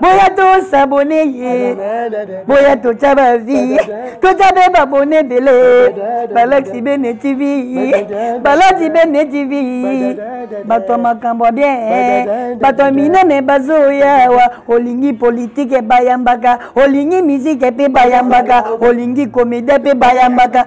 boya tosabone ye boya totya bavi totya mpe babone ebele balakisi bene tv balati bene tv bato ya makambo ya bien bato ya minene bazoyawa olingi politike bayambaka olingi mizike mpe bayambaka olingi komedie mpe bayambaka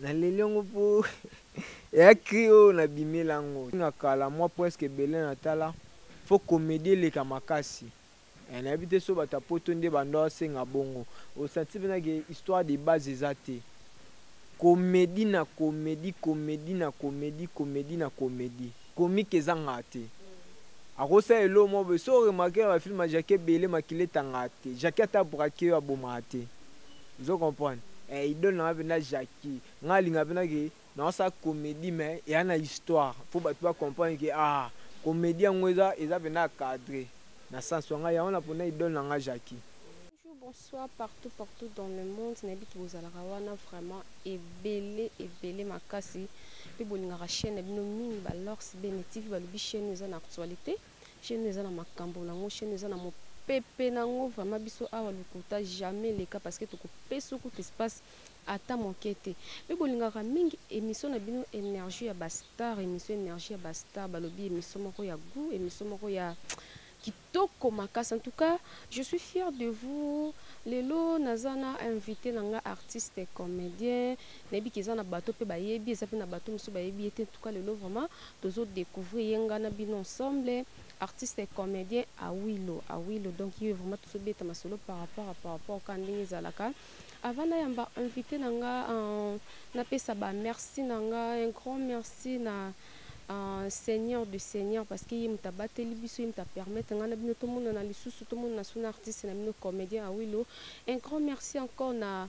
Na leli yango po eya cri oyo na bimela yango na kala mwa presque ebele na tala faut comedie eleka makasi eh nayebi te so bato ya poto nde ba ndoa senga bongo o sentir pena ke histoire de base eza te comedie na comedie comedie na comedie comedie na comedie comique ezangaka te ako sala eloko moko boye soki o remarque na ba film ya Jackie ebele makila etangaka te Jackie ata a braque yo abomaka te. ozo comprendre eh, idole na nga mpenza Jackie nga alinga mpenza ke naosala comédie mais eya na histoire mpo bato ba comprendre ke ah comédie yango eza eza mpenza cadre na sens wa ngai yango na mpona idole na nga Jackie bonsoir partout partout dans le monde nayebi ke bozalaka wana vraiment ebele ebele makasi mpe bolingaka chaîne na bino mingi balors bene tv balobi chaîne eza na actualité Chez nous eza na makambo na ngo, chez nous eza na mo pepe na ngo vraiment biso awa lokuta jamais leka parce que tokopesa kutu espace ata moke te mpe bolingaka mingi émission na bino énergie ya bastar émission énergie ya bastar balobi émission moko ya goût émission moko ya kitoko makasi en tout cas je suis fier de vous lelo naza na invité na nga artiste comédien nayebi ke eza na bato mpe bayebi eza mpe na bato mosusu bayebi ye te en tout cas lelo vraiment tozo decouvrir ye nga na bino ensemble artiste et comedien awilo awilo donc ye vraiment tozobeta masolo par rapport à par rapport kaka ndenge ezalaka avant nayamba invité na nga euh, napesa ba merci na nga un grand merci na Uh, seigneur du seigneur parce que ye moto abateli biso ye moto apermettre ngai na bino tomonana lisusu tomonana so na artiste na bino comédien awilo un grand merci encore na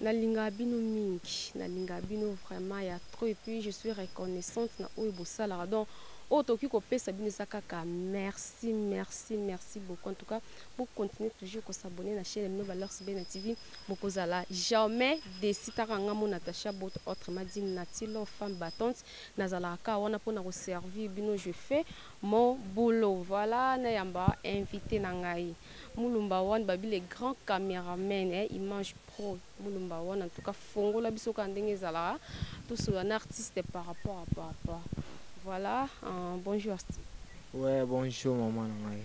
Nalingaka bino mingi, nalingaka bino vraiment ya trop et puis je suis reconnaissante na oyo bosalaka donc oyo tokoki kopesa bino eza kaka merci merci merci beaucoup en tout cas bo continuer toujours ko s'abonner na chaîne bino Valeurs Bena TV bokozala jamais déçu taka nga mo Natacha Bot autrement dit Natilo femme battante nazalaka kaka wana pona ko servir bino je fais mon boulot voilà na yamba invité na ngai Mulumba one babi le grand cameraman eh, image pro mulumba one en tout cas fongola biso ka ndenge ezalaka tosolola na artiste par rapport à papa voilà uh, bonjour artiste ouais bonjour maman na ngai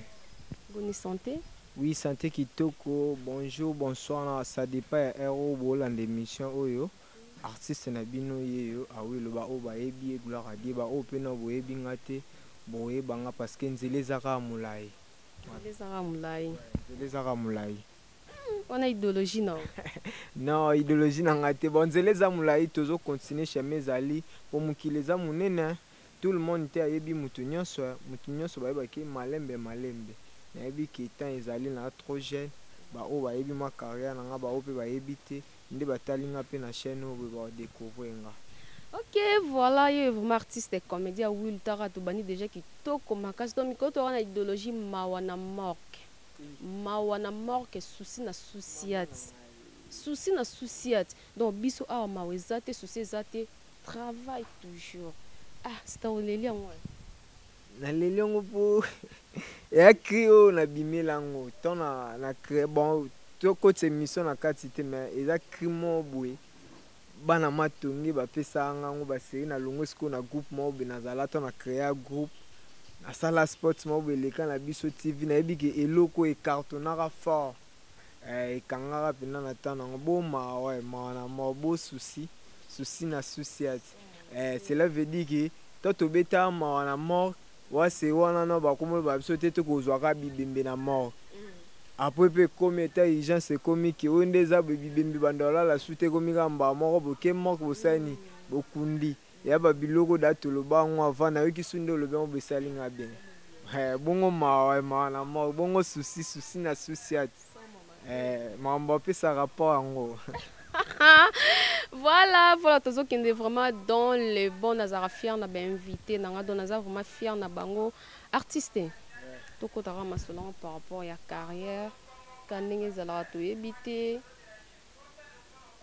bonne santé oui santé kitoko bonjour bonsoir na ça dépend ya heure oyo bolanda émission oyo artiste na bino ye yo awi ah loba oyo bayebi ye gloire adie baoyo mpe na boyebi nga te boyeba nga parce que nzela eza kaka molai Nzela ezaka mulayi. Nzela ezaka mulayi. Wana ideologie na yo. Non, ideologie na nga te. Bon, nzela eza mulayi, tozo continuer chemin ezali po mokili eza munene. Tout le monde te ayebi mutu nionso, mutu nionso bayeba ke malembe malembe. Nayebi ke temps ezali naza trop jeune, ba oyo bayebi mua carrière na nga ba oyo pe bayebi te. nde batali nga pe na chaine oyo boye ba decouvrir nga. Ok voila yo vraiment artiste comedia will tara tobandi deja kitoko makasi to mikolo toka na idologie mawa na morke mawa na morke souci na souciate souci na souciate donc biso awa mawa eza te souci eza te travail toujours ah sita oleli yango Na leli yango po eya cri oyo na bimela yango to na na cre bon to kotisa emission na kati te mais eza cri moko boye bana matonge ba pesa nga yango ba serie na longwe siko na groupe moko boye na zala to na crea groupe na sala sports moko boye leka na biso TV na yebi ke eloko e cartonaka fort eh, e kangaka penda na temps na ngo bo mawa eh, mawa na mawa bo souci souci na souci ati Eh, cela veut dire que toi tobeta mawa na morgue wase wana no bakomoloba biso te tokozwaka bibembe na morgue mm. apres mpe ekomi eta urgence ekomi ke oyo nde eza bibembe banda olala su te ekomi kaka mbaa moko boke morgue bosani mm. bokundi ya babiloko da toloba yango avant nayoki su nde olobi yango bosali nga bien eh, bongo mawa mawa na morgue bongo susi susi na susiati Eh, mambo apesa rapport yango. voilà, voilà, tozo kende vraiment dans le bon nazara fier na ba invité na nga donc naza vraiment fier na bango artiste. Yeah. Toko tara masolanga par rapport ya carrière, ka ndenge ezalaka toyebi te.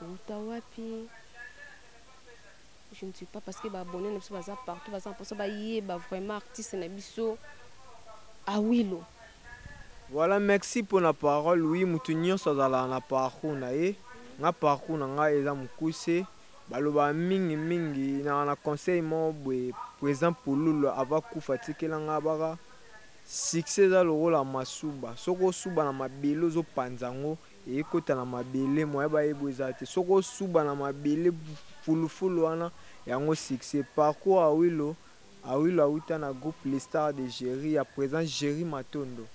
Wuta wapi? Je ne suis pas parce que ba abonnés na biso baza partout baza mposa bayeba vraiment artiste na biso Awilo. Voilà, merci pour la parole. Oui, mutu nyonso azala na parcours na ye. Nga parcours na nga eza mukuse. Baloba mingi mingi na na conseil mo boye président Pululu ava kufa tikela nga baka succès eza lokola masuba. Soko suba na mabele ozo panza ngo ekota na mabele moyen bayebo eza te soki osuba na mabele fulufulu wana yango succès parcours awilo awilo awuta na groupe les stars de Jerry ya présent Jerry Matondo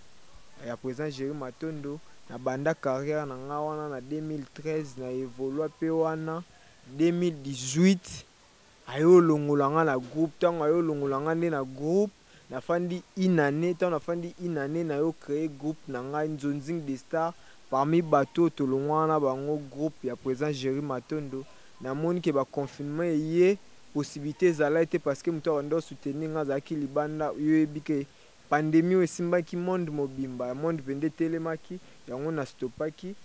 ya présent Jerry Matondo na banda carrière na nga wana na 2013 na evolua pe wana 2018 Aye olongola nga na groupe tango aye olongola nga nde na groupe na fandi une annee tango na fandi une annee naye o cree groupe na ngai nzonzing de star parmi batu oyo tolongwaka na bango groupe ya president Jerry Matondo na moni ke ba confinement eye possibilite ezalaki te parce que mutu abandi o soutenir nga azalaki libanda yo oyebi ke pandemie oyo esimbaki monde mobimba ya monde pende etelemaki yango na stopaki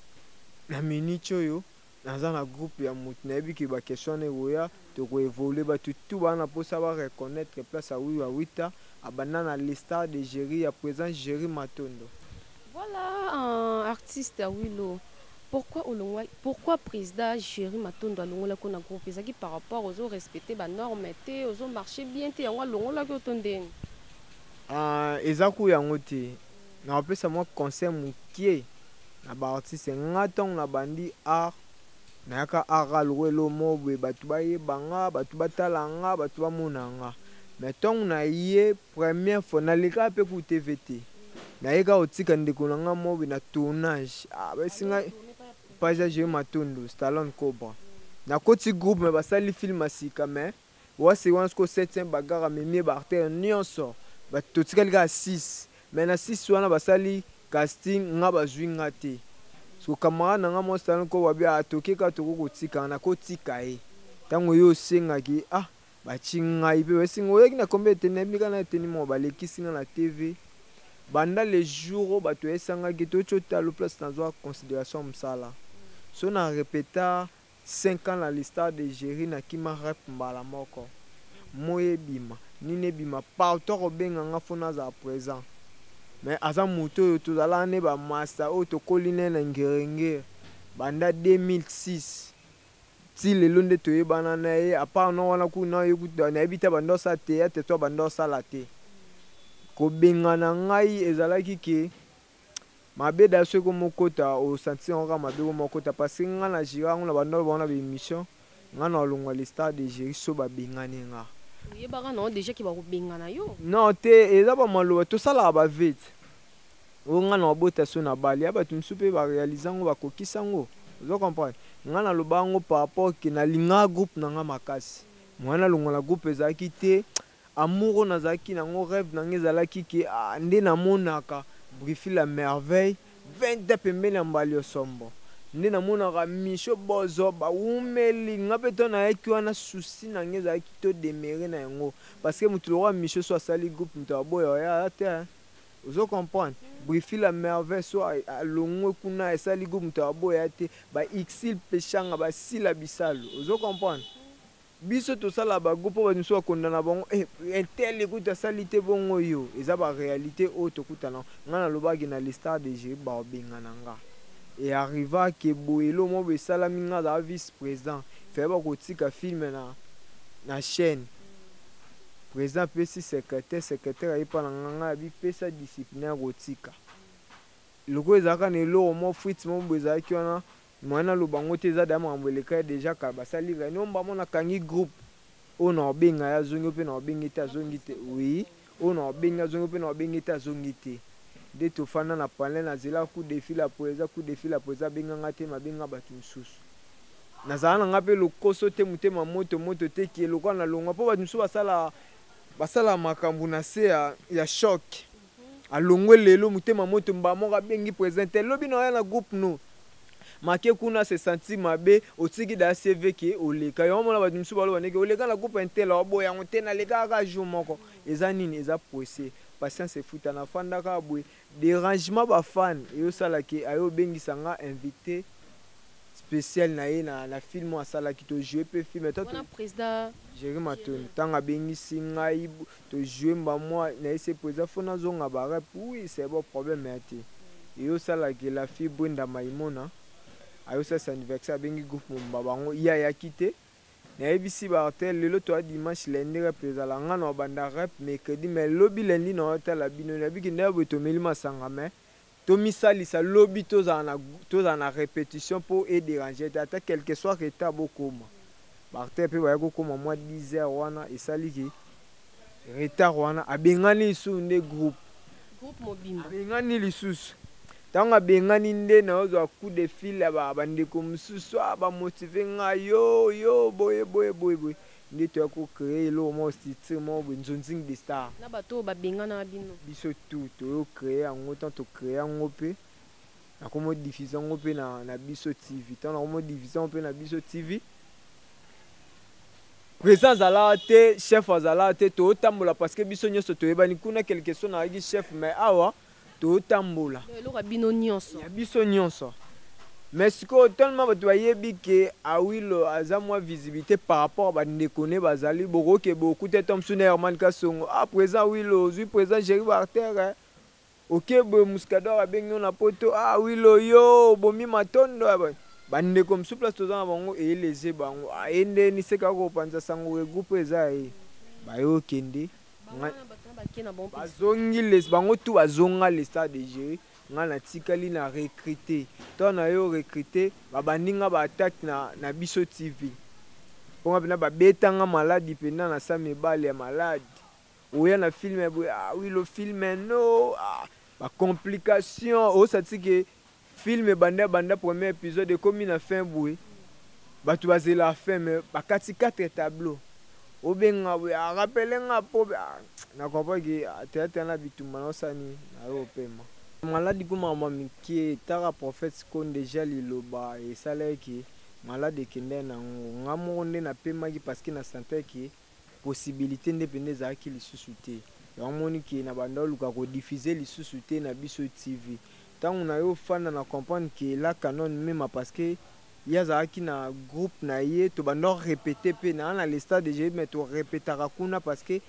na minute oyo Naza na groupe ya mutu nayebi que ba question wana ekoya toko evoluer batu tout baza na posa ba reconnaitre place ya Wiwa Wita abanda na le star de Jerry ya present Jerry Matondo. Voilà un artiste ya Wilo. Pourquoi olongwa pourquoi presida Jerry Matondo alongolaki yo na groupe ezalaki par rapport ozo respecter ba norme te ozo marcher bien te yango alongolaki yo to ndeni? Ah eza ko yango te. Na opesa mwa conseil mukie na ba artiste nga tango na bandi art na yaka aka lokola eloko moko boye batu ba yeba nga batu ba tala nga batu ba mona nga mais tango na ye première fois na lekaka pe kutu TV te na ye kaka ko tika ndeko na nga moko boye na tournage ah ba yebisi nga page ya Jerry Matondo Stallone Cobra na koti groupe mais ba sali film ya sika mais Ou assurance ko 700 bagarre amemi ye ba artère nionso but totikali kaka 6 mais na 6 wana basali casting nga bazui nga te siko camarade na nga mwa Stanley Kobo abi ah toke kaka tokoki kotika nga nako tika ye tango ye osengaki ah batie ngai pe bapesi nga oyaki na combien de tenue nayebi kaka na tenue moko balekisi nga na TV banda le jour oyo batu yesangaki totie yo talo place nazua consideration ya musala soki na repeta Cinq ans na l'histoire de Jerry na kima rep mbala moko moyi ebima nini ebima partout ako benga nga faut nazala present mais aza mutu oyo tozalaka ne ba masta oyo tokoli naye na ngiri ngiri banda 2006 ti lelo nde toyebana naye a part non wana kutu naye kutu nayebi te abanda kosala theatre to abanda kosala te kobengana ngai ezalaki ke Mabe da soki comme okota o sentir yango kaka mabe comme okota parce que nga na jira yango na banda loba na ba emission nga na longwa le star de jiri so ba bengani nga oyebaka na deja ki ba ko bengana yo non te eza ba maloba to salaka ba vete o nga na bota so na bali ya batu msu pe ba realiser ngo ba kokisa ngo ozo comprendre nga na loba ngo par rapport que na linga groupe na nga makasi moyen na longwa na groupe ezalaki te Amour oyo nazalaki na yango reve na nga ezalaki ke nde na monaka Brifi la merveille, Venta pembeni ya Mbaliosombo nde na monaka Michaux Bozo ba wumeli nga pe to nayaki wana souci na nga ezalaki to demeure na yango parce que mutu lokola Michaux soit asali groupe mutu aboya oya aya te hein ozo comprendre Brifi la merveille soit alongwe kuna esali groupe mutu aboya te ba Ursule Peshanga ba Sila Bisalu ozo comprendre Biso tosala ba go po bato misusu ba kondana bango eh un tel kutu asali te bongo oyo eza ba realite oyo tokutana nga na loba ke na le star de jeric bako bengana nga et arriva ke boye eloko moko boye esalami nga naza vice president fallait bakotika film na na chaine president apesi secretaire secretaire aye pa na nga nga abi pesa discipline ya kotika lokola ezalaka na eloko moko fritz moko boye ezalaki wana Moyen aloba yango te eza dejà makambo eleka ye dejà kala basali reunion omba mona akangi groupe oyo na obenga ye azongi oyo pe na obengi ye te azongi te oui oyo na obengi azongi oyo pe na obengi ye te azongi te nde tofanda na panel na zela coup de fil ya president coup de fil ya president abenga nga te mais abenga batu misusu nazala na nga pe lokoso te motema moto moto te que lokola na longwa po batu misusu basalaka basalaka makambo na se ya ya choc Alongwe lelo mutema moto mbaa moko abengi president te lobi naoya na groupe no make kuna se sentir mabe otiki daya CV ke oleka yango mona batu misusu baloba ndeke oleka na groupe intel aoboya yango te nalekaka kaka jour moko eza nini eza poisse patience efuta na fanda kaka boye derangement ba fan eyo sala ke aye obengisa nga invite special na ye na, na film oyo asalaki to joue pe film toi tu jerry matoni ntango abengisi ngai To jouer mba mwa na ese po eza faut nazonga ba rep oui c'est bon problème eya te eye osala ke la fille Brenda Maimona aye osalisa anniversaire abengi groupe mobimba bango ye ayaki te nayebisi ba artel lelo toya dimanche lundi rep ezala nga na obanda rep mercredi mais lobi lundi na otala bino nayebi ke nde ya boye tomeli masanga mais tomisalisa lobi tozala na tozala na repetition po e deranger te ata quelque soit retard bokoma ba acteurs pe baya kokoma mwa 10 heures wana esali ke retard wana abengani lisusu nde groupe groupe mobimba abengani lisusu ntango abengani nde naozwa coup de fil ya bandeko mosusu a ah, bamotive ngai yo yo boye boye boye boye Nde toya ko creer eloko moko structure moko boye Nzonzing de star. Na bato oyo ba benganaka bino. Biso tout toyo creer yango tango to creer yango pe na komo diffuser yango pe na na biso TV tango na komo diffuser yango pe na biso TV President azalaka te, chef azalaka te, tozo tambola parce que biso nionso toyebani kuna quelque soit nazalaki chef mais awa totambola donc eloko ya bino nionso ya biso nionso mais sikoyo tellement bato bayebi ke awilo aza mwa visibilite par rapport ba ndeko ne bazali bokoke bokuta etant mosusu na herman kasongo ah president awilo ozwi president jerry bartere oke boye muscador abengi yo na poto ah awilo yo obomi matondo ya bato bandeko mosusu place toza na bango eyeleze bango aye nde niseka kopanza sango ke groupe eza ye baye okende bazongi les bango tout bazonga le stade de jeu ngai natikali na recrute to na yo recrute babandi ngai baattaque na, na biso tv mpo ngai mpena babetanga maladi mpena na sa mibale ya maladi oya na filme boye ah, wi lo filme no ah, bacomplication osati ke Film ebanda banda premier episode ekomi na fin boye batu bazela fin mais bakati 4 tableau obenga boye a rappelle nga po na comprend que theatre na bitumba na osala nini na yo opema malade ko mama mike taka prophète ko ndeja liloba esalaki malade ekenda na ngo nga moko nde na pemaki parce que na sentais que possibilite nde penza ezalaki lisusu te yango omoni ke na banda oluka ko diffuser lisusu te na biso TV tango na yo ofanda na comprendre ke la canon mema parce que ye azalaki na groupe na ye tobanda ko repeter pe na na le stade je mais to repetaka kuna parce que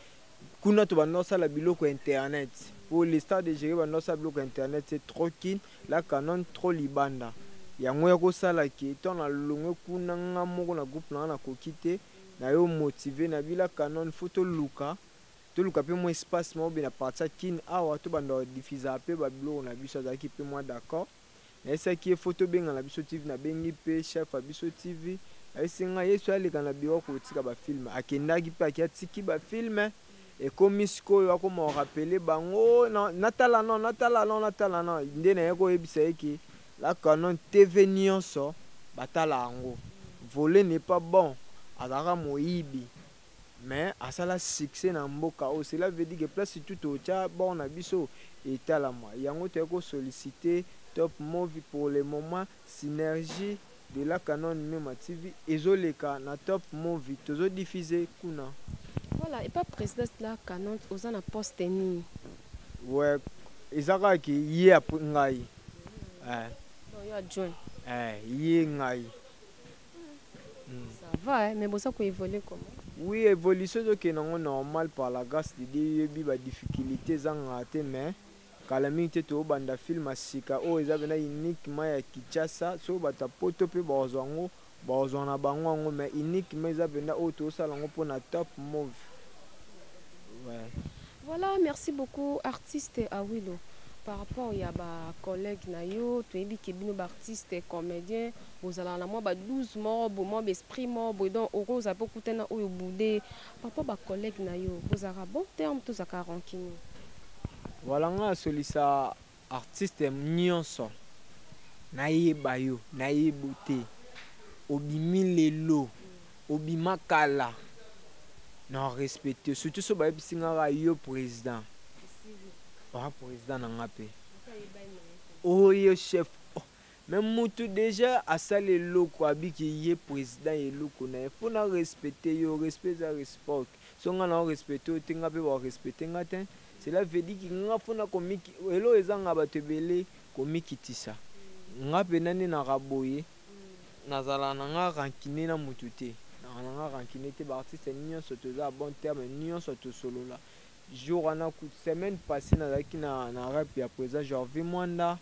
kuna tobanda kosala biloko ya internet po le stade de jeu banda kosala biloko ya internet c'est trop kin la canon trop libanda yango ya kosala ke to na longwe kuna nga moko na groupe na nga nakoki te na yo motive na bila canon faut toluka toluka pe mwa espace moko be na parti ya kin awa tobanda kodifizaka pe babiloko na biso azalaki pe mwa d'accord nayesaki ye faut tobengana biso tv nabengi pe chef ya biso tv ayesi ngai yesu aleka na biro kotika bafilme akendaki pe aki atiki bafilme ekomi sikoyo akoma orapele bango natala no natala no natala no nde naye koyebisa ye ke La canon TV nionso batala yango vole n'est pas bon azalaka moyibi mais asala succès na mboka oyo cela veut dire que place tout totia bord na biso etalama yango toye ko sollicite top movie pour le moment synergie de la canon mema TV ezo leka na top movie tozo diffuse kuna. Voilà epa president de la canon oza na poste nini? Ouais eza kaka ke ye après ngai. Eh. Donc yo adjoint. Eh ye ngai. Hmm. Ça va eh, mais boza ko évoluer comment? oui évolution ezokende yango normal par la grâce de dieu yebi badifficulté ezangaka te mais Kala mingi te to banda film ya sika oyo eza pena uniquement ya Kinshasa soki batu ya poto pe bako zua yango bako zua na bango yango mais uniquement eza penda oyo tozo sala yango pona top move ouais. Voilà, merci beaucoup artiste Awilo. Par rapport ya ba collègues na yo, toyebi ke bino ba artistes comédiens, bozalaka na mwa ba 12 moko bo mwa ba esprit moko boye donc okozala mpe okutana oyo boude Papa ba collègues na yo bozalaka bon terme to zaka rancunier? Voilà nga na solisa artiste nionso nayeba yo nayebo te obimi lelo obima kala na respecte surtout so bayebisi nga ka yo président oa président na nga mpe oyo chef Mais mutu dejà asali eloko abiki ye president ya eloko naye faut na respecter yo respect eza respoct soki nga nao respecter yo te nga pe bako respecter nga tein cela veut dit que nga faut na komiki eloko ezanga batu ebele komikitisa nga pena nde naka boye nazala na nga rancune na mutu te naka na nga rancune te ba artiste nionso toza ya bon terme nionso tosolola jour wana semaine passee nazalaki na na rep ya president Jorvie Mwanda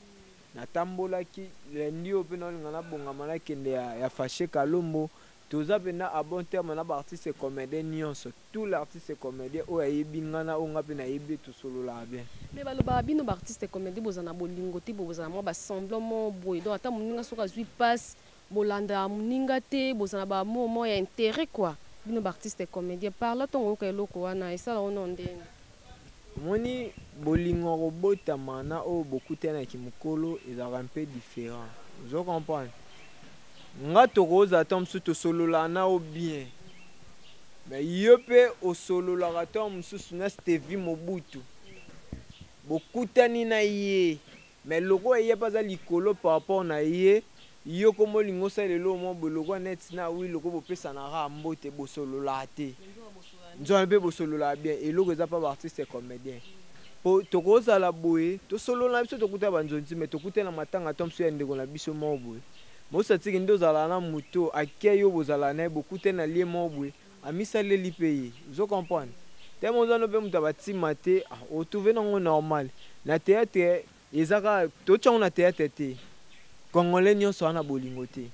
Natambolaki lundi oyo mpe naolinga nabongama nakende ya, ya Fache Kalombo. Toza mpenza a bon terme na ba artistes comediens nionso. Tout l'artiste comedien oyo ayebi nga na oyo nga mpe nayebi ye tosololaka bien. Mais balobaka bino ba artistes comediens bozala na bolingo te, bozala mwa ba semblants moko boye donc ata moninga soki azui pasi Bolanda muninga te boza na ba mot moko ya interet quoi bino b'artiste comedien parla tongo oyoka eloko wana esala yo noo ndeni. Omoni bolingo ya kobotama na oyo bokutani na kimokolo ezalaka un peu different ozo comprendre? Nga tokozala tango mosusu tosololaka na yo bien mais yo pe osololaka tango mosusu na Stevie Mobutu bokutani na ye Mais lokola ye pe aza likolo par rapport na ye, yo koma olingi osala eloko moko boye lokola neti na Will lokola bopesana kaka mbote bosololaka te. Nzoka pe bosololaka bien eloko eza pa ba artistes comediens. Po tokozala boye tosolola na biso tokuta ba nzonzi mais tokutani na matanga to mosusu ya ndeko na biso moko boye. Mossatsi kende ozalaka na moto oyo ake yo bozalaka na ye bokutani na lieu moko boye. Amisaleli pe ye. Ozo comprendre? Tellement oza no pe moto ya ba tima te, o trouver na ngo normal. Na theatre eza kaka to tia ngo na theatre te. Congolais nionso aza na bolingo te.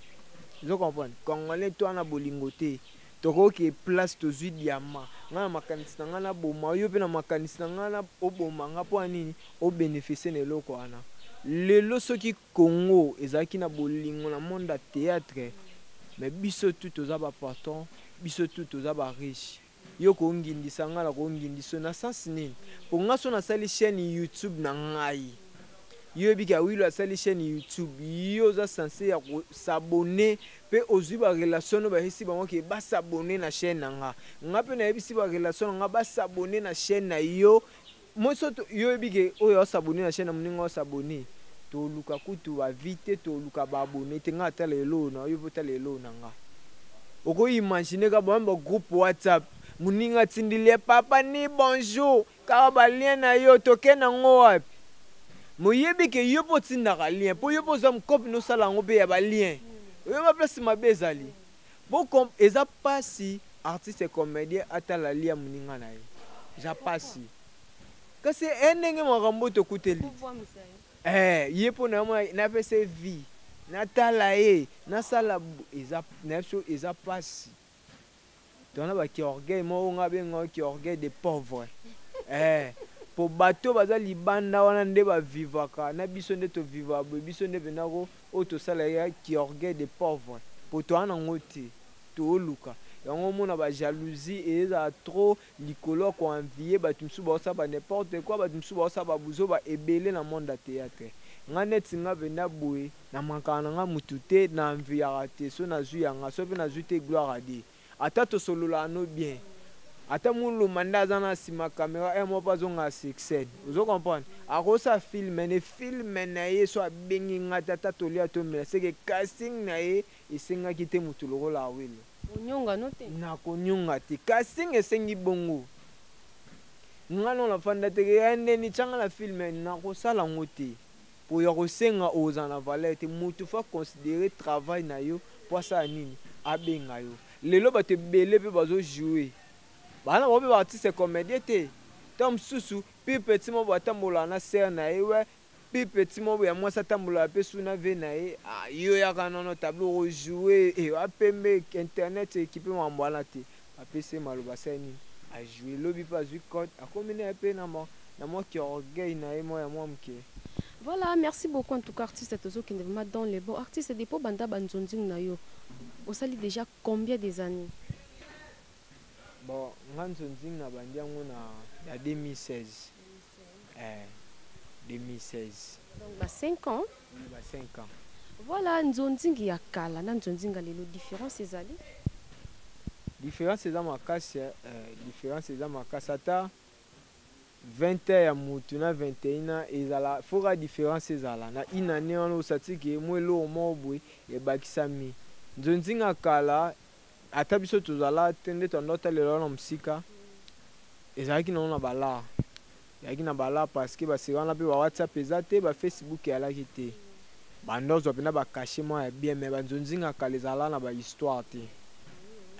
Ozo comprendre? Congolais tout aza na bolingo te. Toko ke place tozui diamant. Nga na makanisi na nga na boma yo pe na makanisi na nga na oboma nga pona nini? O beneficie na eloko wana. Lelo soki. Congo ezalaki na bolingo na monde ya theatre mais biso tout toza ba patron biso tout toza ba riche yo ko ngindisa nga na ko ngindisa yo na sens nini po nga so na sali chaine youtube na ngai yo yebi ke awilo asali chaine youtube yo oza sense ya ko s'abonner pe ozui ba relation no bayebisi bango ke ba s'abonner na chaine na nga nga pe nayebisi ba relation na nga ba s'abonner na chaine na yo Moi so to yo yebi ke oyo a s'abonner na chaine ya muninga o s'abonner to luka kutu ba vie te to luka ba abonner te nga atala eloo na yo pe otala eloo na nga oko imaginer ka ba ba groupe whatsapp muninga atindeli ye papa ni bonjour kaka ba lien na yo toke na ngo wapi mais oyebi ke yo pe otindaka lien po yo pe oza mukop no sala yango pe ya ba lien oyebi ba place mabe ezali Bo com eza pasi artiste comedien atala lia muninga na ye. Eza pasi. Kasi eh ndenge makambo oyo tokuteli. Eh ye po na mwa na pese vie. Natala ye, nasala eza na biso eza pasi. Tona ba ki orgueil moko nga benga ki orgueil de pauvre. Eh po bato baza libanda wana nde ba vivaka na biso nde to viva boye biso nde pena ko Oyo tosala ya ki orgueil de pauvre po toa na ngo te tooluka yango omona ba jalousie ezala trop likolo ya ko envier batu misusu bao sala ba n'importe quoi batu misusu bao sala ba buzoba ebele na monde ya theatre nga neti nga venda boye na mankaka na nga mutu te na enviaka te soki nazui ya nga soki pe nazui te gloire à Dieu. Ata tosolola ano bien ata muluma nde aza n'a sima camera heure moko pe azonga succed ozo comprendre akosala film mais ne film naye soki abengi nga te ata tolia tomela ce que casting naye esengaki te mutu lokola awilo onyonga no te nako nionga te casting esengi bongo nga no na fanda te ke ya ndeni tia nga na film nako sala ngo te. Po ya kosenga oyo ozala na valeur te mutu faut a considerer travail na yo po asala nini abenga yo lelo batu ebele pe bazo jouer baza na bango pe ba artiste comedien te tango mususu pire petit moko boye atambolaka na sœur na ye ouais pire petit moko boye ya mwasi atambolaka pe su na vie na ye ah yo yaka non non tableau oko jouer eh wa pembe internet ekipe makambo wana te Apesi ye maloba asali nini? A jouer. Lobi pe azui code akomi na ye pe na mwa na mwa ki orgueil na ye mwa ya mwa muke. Voilà merci beaucoup en tout cas artiste tozo kende vraiment dans le bon artiste depuis obanda ba nzonzing na yo osali dejà combien des annees? Bon nga nzonzing na bandi yango na na 2016. Eh, 2016. Donc ba 5 ans. Oui, ba 5 ans. Voilà nzonzingi ya kala na nzonzinga lelo différence ezali. Différence eza makasi, eh, différence eza makasi ata 20 ans ya mutu na 21 ans ezala foka différence ezala na une année wana osatiki mwe eloko moko boye ebakisami nzonzinga kala Ata biso tozala te nde toando kotalela wana mosika ezalaki nango na balaa ezalaki na balaa parceke basika wana mpe ba whatsapp eza te ba facebook eyalaki te banda ozwa mpena bakache mwa ya bien me banzonzinga kala ezala na bahistoire te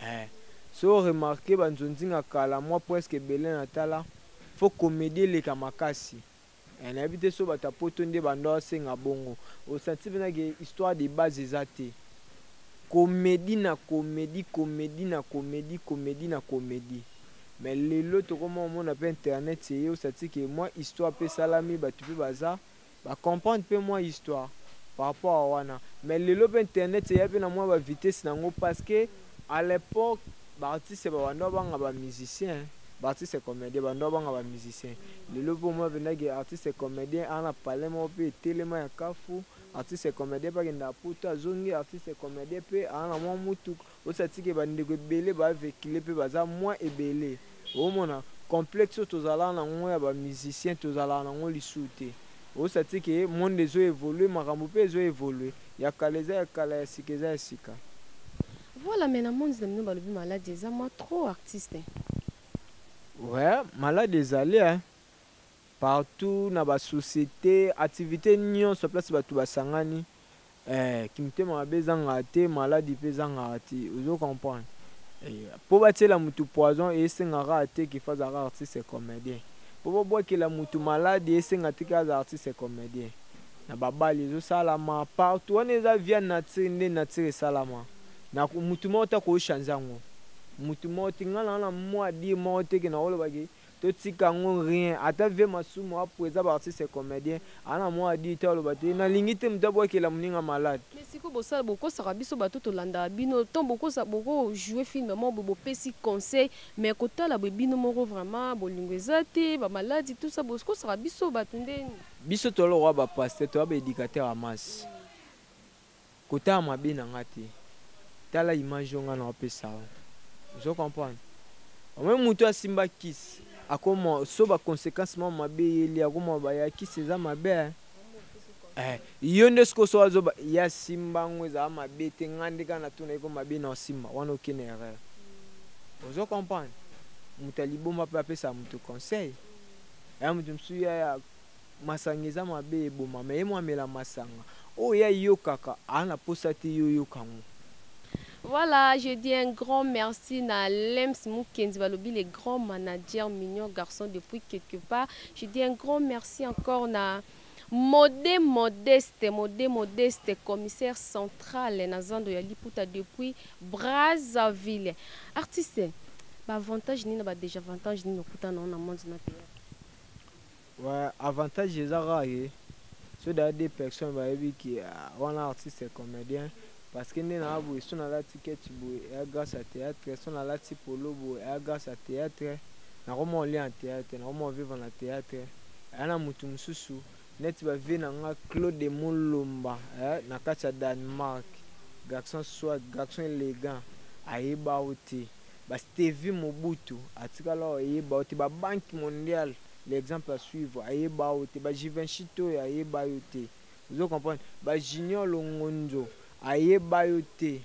eh. so remarke banzonzinga kala mwa presque ebele na tala fo komedi eleka makasi Eh, nayebi te so bato ya poto nde bando asenga bongo osanti mpena ke histoire de base eza te komedi na komedi komedi na komedi komedi na komedi me lelo tokoma omona mpe internet eye osanti ke mwa histoire mpe esalami bato mpe baza bacomprendre mpe mwa histoire par rapport a wana me lelo mpe internet eya mpe na mwa bavitesse na yango parce que A l'epoque ba artistes ba banda banga ba musiciens ba artistes comediens ba banda banga ba musiciens lelo pe omona penza ke artiste comedien aza na palais moko pe etelema ya kafu artiste comedien pe akenda ya poto azongi artiste comedien pe aza na mua mutuka osi atiki ba ndeko ebele ba vehicule pe baza mua ebele Ozo mona complexe oyo tozalaka na ngo ya ba musiciens tozalaka na ngo lisuu te. Ozo sati ke monde ezo evoluer makambo pe ezo evoluer. Ya kala eza ya kala ya sika eza ya sika. Voilà mais na monde na bino balobi malade eza mua trop artiste. Ouais malade ezali hein partout na ba societe activite nionso place batu basangani Eh kimtema mabe ezangaka te maladi mpe ezangaka te ozo comprendre eh, mpo batiela mutu poison esenga kaka te ke faza kaka artiste comedien mpo babwakela mutu maladi esenga te ke aza artiste comedien na babali ezosalama partout wana eza via nature nde nature esalama na mutu moko te akoki changer yango mutu moko te nga na na mua dire moko te ke nakolobake To tika yango rien ata vie masumu apu eza ba artiste et comedien a na mua dit te aloba te na lingi te mutu abuakela muninga malade. Mais sikoyo bosala bokosaka biso bato tolandaka bino temps bokosa boko joue film moko boye bopesi conseil mais kotala boye bino moko vraiment bolingo eza te ba maladi tout ça bokosaka biso bato nde. Biso toza lokola ba pasteur toza ba educateur ya masse. Kotala mabe na nga te. Tala image oyo nga nao pesa yo. Ozo comprendre? Omoni mutu asimba kisi, akoma so ba consequences mwa mabe eyeli, akoma ba ya kisi eza mabe hein. Eh, yo nde siko so azoba ya simba ngo eza mabe te, nga nde kaka natuna iko mabe nao simba, wana oke na erreur. Ozo comprendre? Mutu ya liboma pe apesa mutu conseil. Eya mutu mususu ya Masanga eza mabe eboma mais ye mwa mela masanga oyo ye ayokaka aa na posa te yo oyoka ngo. Voilà je dis un grand merci na Lems Mukendi balobi le grand manager mignon garçon depuis quelque part je dis un grand merci encore na Mode Modeste Mode Modeste commissaire central na zando ya liputa depuis Brazzaville artiste ba avantage nini na ba desavantage nini okutana na yango na monde na theatre? Ouais, avantage eza kaka ke so da deux personnes bayebi ke ah, wana artiste et comedien parce que nde naa boye so nalati ketch boye eya grâce à théâtre so nalati polo boye eya grâce à théâtre nakoma olia na théâtre nakoma ovivre na théâtre eya na motu mosusu neti bavie na nga claude molomba eh, na kati ya danemark garçon soit garçon élégant ayeba yo te bastevi mobutu atikala oyeba yo te babanki mondiale l'exemple à suivre ayeba yo te ba Givenchy toyo ayeba yo te ozo comprendre ba Junior Longonzo ayeba yo te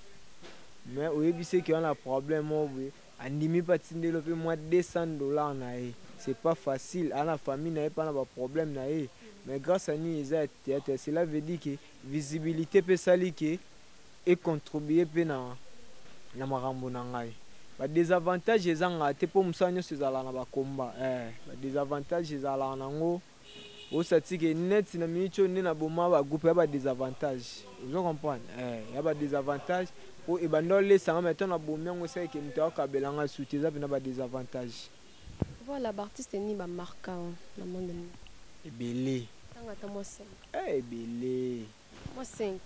mais oyebi se ke wana problème moko boye andimi mpe atindeli yo mpe mwa 200 dollars na ye c'est pas facile ana famille na ye mpe ana ba problème na ye mais grâce à nini eza ya theatre cela veut dire que visibilite pe esali ke e contribuer pe na na makambo na ngai ba desavantage ezanga te po musala nionso ezalaka na ba combat eh ba desavantage ezalaka na ngo osati ke net na minute oyo nde na boma ba groupe ya ba desavantage ozo comprendre eh ya ba desavantage po ebanda olesa nga mais to na bomi yango esali ke moto akabela nga suite eza pena ba desavantage Voilà ba artistes nini ba marka yo na monde mobimba? Ebele. Tanga ata mwa 5. Eh ebele. Mwa 5.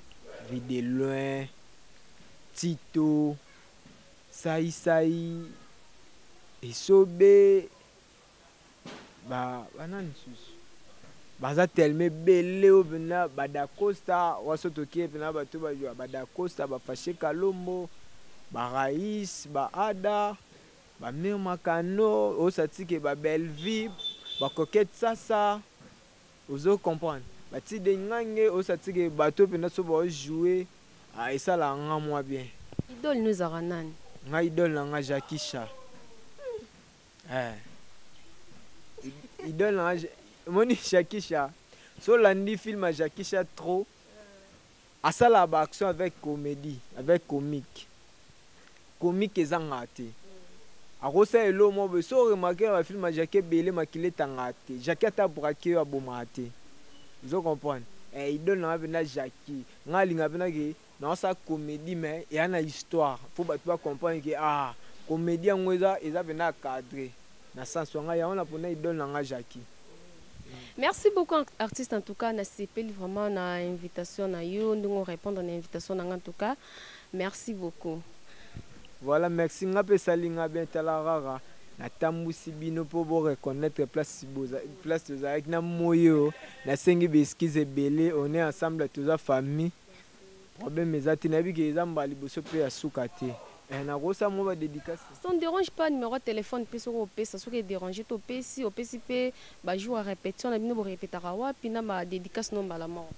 Vue de loin, Tito, Sai Sai, Esobe, ba ba nani susu? Baza tellement ebele oyo pena ba Da Costa, waso tokie pena bato ba ba Da Costa, ba Fache Kalombo, ba Rais, ba Ada. Ba mur makano osa tike ba bellevue ba coquette sasa ozo comprendre ba tide ngange osa tike bato penda so bao jouer ah esala nga mwa bien. Idole no ezalaka nani? Nga idole na nga Jackie Cha eh idole na nga omoni Jackie Cha so olandi film ya Jackie Cha trop Asala ba action avec comedie avec comique comique ezanga te akosala eloko moko boye soki o remarquer na ba film ya Jackie ebele makila etangaka te Jackie ata a braquer yo abomaka te ozo comprendre eh idole na nga penza Jackie nga nalingaka penza ke naosala comedie mais eya na histoire po batu ba comprendre ke ah comedie yango eza eza penza cadre na sens wanga yango na pona idole na nga Jackie Merci beaucoup artiste en tout cas na sepeli vraiment na invitation na yo ndongo répondre na invitation na en tout cas merci beaucoup Voilà merci nga pe salinga bien tala rara natambusi bino mpo boreconnaitre place boza place tozalaki na moyo nasengi baeskize ebele on est ensemble toza famille Problème eza te nayebi ke eza mbala liboso pe ya suka te. Eh, nakosa mwa ba dedicace. Ça ne dérange pas numéro ya telephone pe soki opesa soki e dérange te opesi opesi pe ba jour ya repetition na bino bo repetaka wapi na ba dedicace no mbala moko.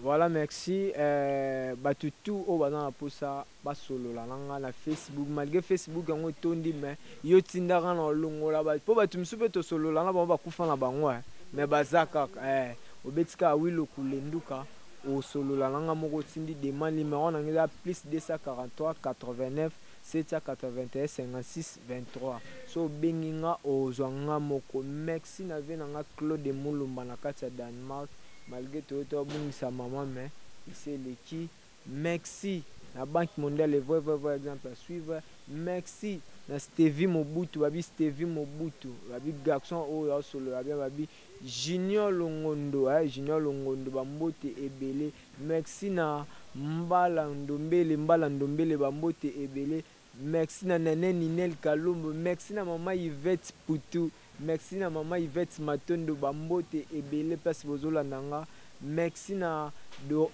Voilà merci eh, batu tout oyo baza na posa. Ba solola na nga na Facebook malgre Facebook yango etondi mais yo tinda nga na olongola ba po batu misusu pe to solola na bango ba kufa na bango eh mais baza kaka eh obeti kaka oui lokule nduka osolola na nga moko otindi demande numero na nga eza plus 243 89 781 56 23 so obengi nga ozwa nga moko merci na vie na nga Claude Mulumba na kati ya Danemark malgre toye to bungisa maman mais esi eleki Mexi na banque mondiale le vrai vrai vrai exemple à suivre mexi na stevi mobutu babi stevi mobutu babi garçon oyo aosolola bien babi junior longondo eh, junior longondo bambote ebele mexi na mbala ndombele mbala ndombele bambote ebele Merci na Nene Ninelle Kalombo, merci na maman Yvette Putu, merci na maman Yvette Matondo, ba mbote ebele place bozolanda nga, merci na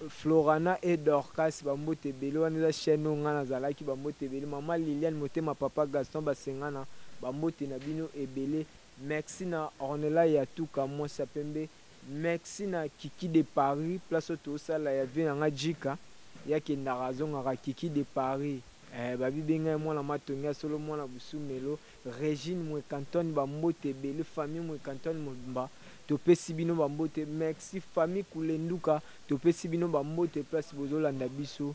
Florana et Dorcas, ba mbote ebele, wana eza chaine oyo nga nazalaki, ba mbote ebele, maman Liliane Motema, papa Gaston Basengana, ba mbote na bino ebele, merci na Ornella Yatuka, mwasi ya pembe, Merci na kiki de Paris place oyo to sala ya vie na nga djika ye akendaka azongaka kiki de Paris eh ba bi benga ye mwana matonge ya solo mwana busumelo Regine mweka Antoine ba mbote ebele famille mweka Antoine mobimba to pesi bino ba mbote merci famille kulenduka to pesi bino ba mbote place bozo landa biso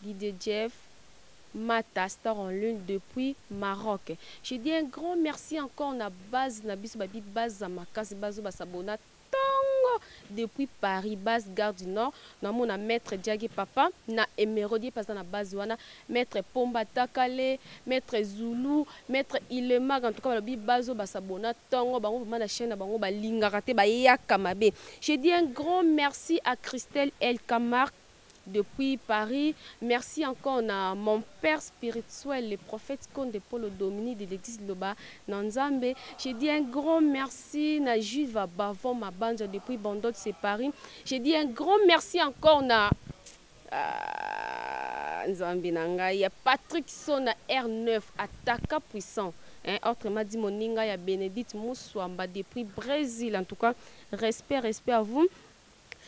Didier Jeff Mata star en lune depuis Maroc je dis un grand merci encore na base na biso babi baza makasi bazo ba s'abonna tongo depuis Paris base gare du Nord na mona maitre Diagi papa na emerode ye paza na base wana maitre Pomba Takale maitre Zulu maitre Ilemag en tout cas balobi bazo ba s'abonna tongo bango vraiment na chaine na bango ba lingaka te ba yaka mabe je dis un grand merci à Christelle Elka Marc Depuis Paris, merci encore na mon père spirituel, le prophète Konde Polo Domini de l'église Loba na Nzambe. Je dis un grand merci na Juva Bavon Mabanza depuis Bandot, c'est Paris. Je dis un grand merci encore na ah, Nzambe na ngai, Patrick Sona R9, attaquant puissant. Hein, autrement dit, Moninga ya Benedict Mouswamba depuis Brésil. En tout cas, respect, respect à vous.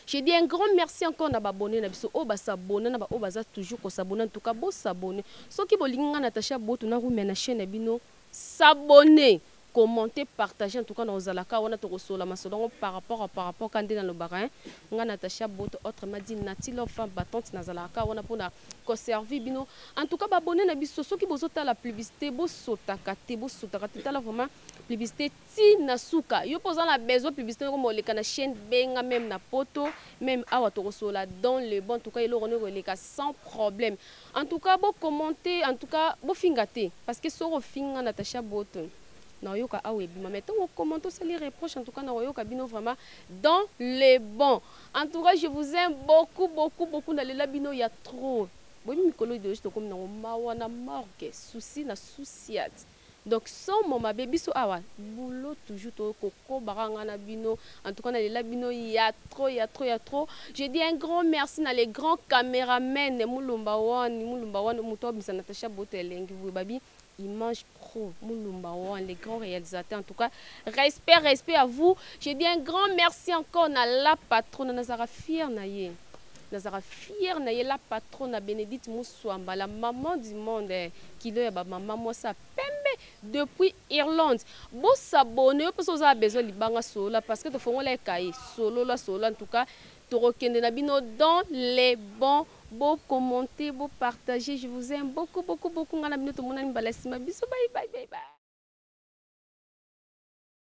Je dis un grand merci encore na ba abonnes na biso oyo ba s'abonner na ba oyo baza toujours ko s'abonner en tout cas bo s'abonner soki bolingi nga Natacha Boto na rumia na chaine na bino s'abonner commenter partager en tout cas na kozala ka wana toko solola masolo yango par rapport à par rapport ka nde na lobaka hein nga Natacha Boto autrement dit Nati Love femme battante nazalaka ka wana pona ko servir bino en tout cas ba abonnes na biso soki bozo tala publicité bo sotaka te bo sotaka te tala vraiment publicité ti na suka yo pe oza na besoin publicite noko moleka na chaine benga meme na poto meme awa toko solola dans le bon tout cas eloko noko eleka sans problème en tout cas bo commente en tout cas bo finga te parce que soki ofinga Natacha Boto na oyoka awa ebima mais tango o commente osali reproche en tout cas na oyoka bino vraiment dans le bon en tout cas je vous aime beaucoup beaucoup beaucoup na lela bino ya trop boyebi mikolo ideologie tokomi nango mawa na morgue souci na souciate Donc somo mabe biso awa boulot toujours to kokoba kaka nga na bino en tout cas na lela bino ya trop ya trop ya trop je dis un grand merci na le grand cameraman mulumba one mulumba one moto abimisa Natacha Boto elengi boye babi Image Pro, Mulumba One, les grands réalisateurs. En tout cas, respect, respect à vous. Je dis un grand merci encore à la patronne Nazara Fier Naye. Nazalaka fière na ye la patronna Benedite Musuamba la maman du monde eh, kilo ya ba maman mwasi ya pembe depuis Irlande. Bo s'abonner yo pe soki oza na besoin libanga solola parce que tofongola ye cahier. Solola solola en tout cas tokokende na bino dans les bons bo commenter bo partager je vous aime beaucoup beaucoup beaucoup nga na bino tomonani mbala sima bisous bye bye bye bye.